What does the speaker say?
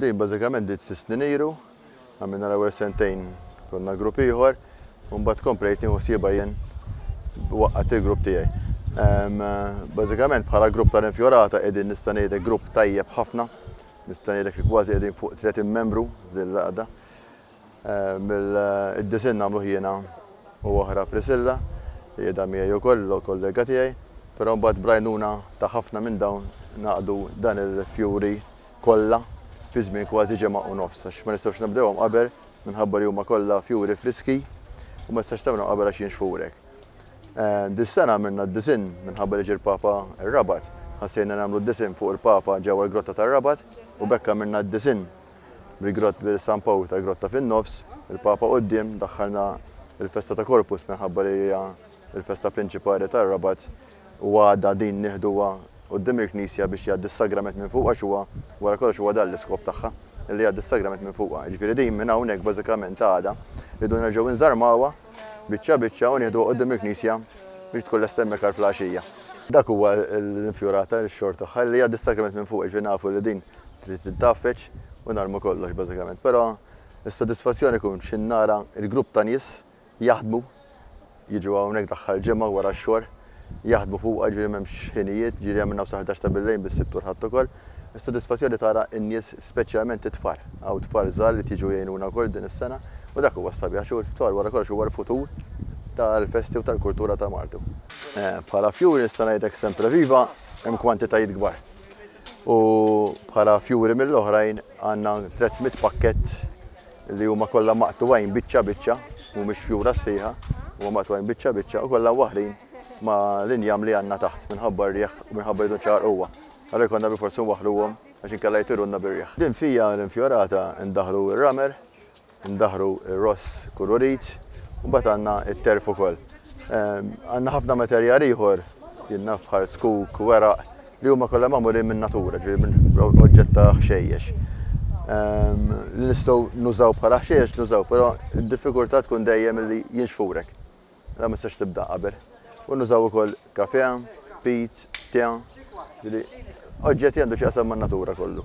Din bażikament bdiet sitt snin iru, għamilna l-ewwel sentejn konna grupp ieħor u mbagħad komplejt nieħu ħsiebha jien waqqadt il-grupp tiegħi. Bażikament bħala grupp tal-infjorata qegħdin nista' ngħidlek grupp tajjeb ħafna, nista' ngħidlek li kważi qegħdin fuq 30 membru f'din l-għaqda. Id-disinn għamluh jiena u oħra Priscilla, li qiegħda miegħi wkoll, kollega tiegħi, però mbagħad bl-għajnuna ta' ħafna minn dawn ngħaqdu dan il-fjuri kollha fi żmien kważi ġimgħa u nofs għax ma nistgħux nibdewhom qabel minħabba li huma kollha fjuri friski u ma tistax tagħmilhom qabel għax jinxfu hekk. Dis-sena għamilna d-disinn minħabba li ġie l-Papa r-Rabat, ħassejna nagħmlu d-disinn fuq il-Papa ġewwa l-Grotta tar-Rabat u b'hekk għamilna d-disinn. mill-Grotta San Pawl ta' Grotta fin-Nofs, il-Papa quddiem daħħalna l-festa ta' Corpus minħabba li hija l-festa prinċipali tar-Rabat u għada din nieħduha quddiem il-Knisja biex jgħaddi s-Sagrament minn fuqha għax huwa wara kollox huwa dan l-iskop tagħha li jgħaddi s-Sagrament minn fuqha. Jiġifieri din minn hawnhekk bażikament għada rridu nerġgħu nżarmawha biċċa biċċa u nieħduha quddiem il-Knisja biex tkun lesta hemmhekk għall-Flaxija. Dak huwa l-infjurar ta' x-xogħol tagħha li jgħaddi s-Sagrament minn fuqha, jiġifieri nafu li din Trid tintgħafeġ u narmu kollox bażikament. Però s-sodisfazzjon ikun xi nara l-grupp ta' nies jaħdmu, jiġu hawnhekk l-aħħar ġimgħa wara x-xogħol, jaħdmu fuqha, jiġifieri m'hemmx ħinijiet, jiġifieri hemm minn hawn sal-ħdax ta' billejl bis-Sibt u l-Ħadd ukoll. Is-sodisfazzjon li tara n-nies speċjalment it-tfal. Hawn tfal żgħar li qed jiġu jgħinuna wkoll din is-sena u dak huwa s-sabiħ għax it-tfal wara kollox huwa l-futur tal-festi u tal-kultura ta' Malta. Bħala fjuri nista' ngħidlek Sempreviva hemm kwantitajiet kbar. u bħala fjuri mill-oħrajn għandna 300 pakkett li huma kollha maqtugħin biċċa biċċa, mhumiex fjura sħiħa, huma maqtugħin biċċa biċċa u kollha waħrin ma' l-injam li għandna taħt minħabba r-riħ u minħabba jridu nċaqalquha. Allura jkollna bilfors inwaħħluhom għax inkella jtirunna bir-riħ. Din fija l-infjorata ndaħħlu r-ramer Ndaħħru r-ross kururit u mbagħad għandna t-terf ukoll. Għandna ħafna materjal ieħor, jinnaf bħal skuk, weraq, li huma kollha magħmulin min-natura, ġifieri minn oġġett ta' ħxejjex. Li nistgħu nużaw bħala ħxejjex nużaw, però d-diffikultà tkun dejjem li jinxfulek. Allura ma tistax tibda qabel. U nużaw ukoll kafè, pizz, te, ġifieri oġġett li għandu x'jaqsam man-natura kollu.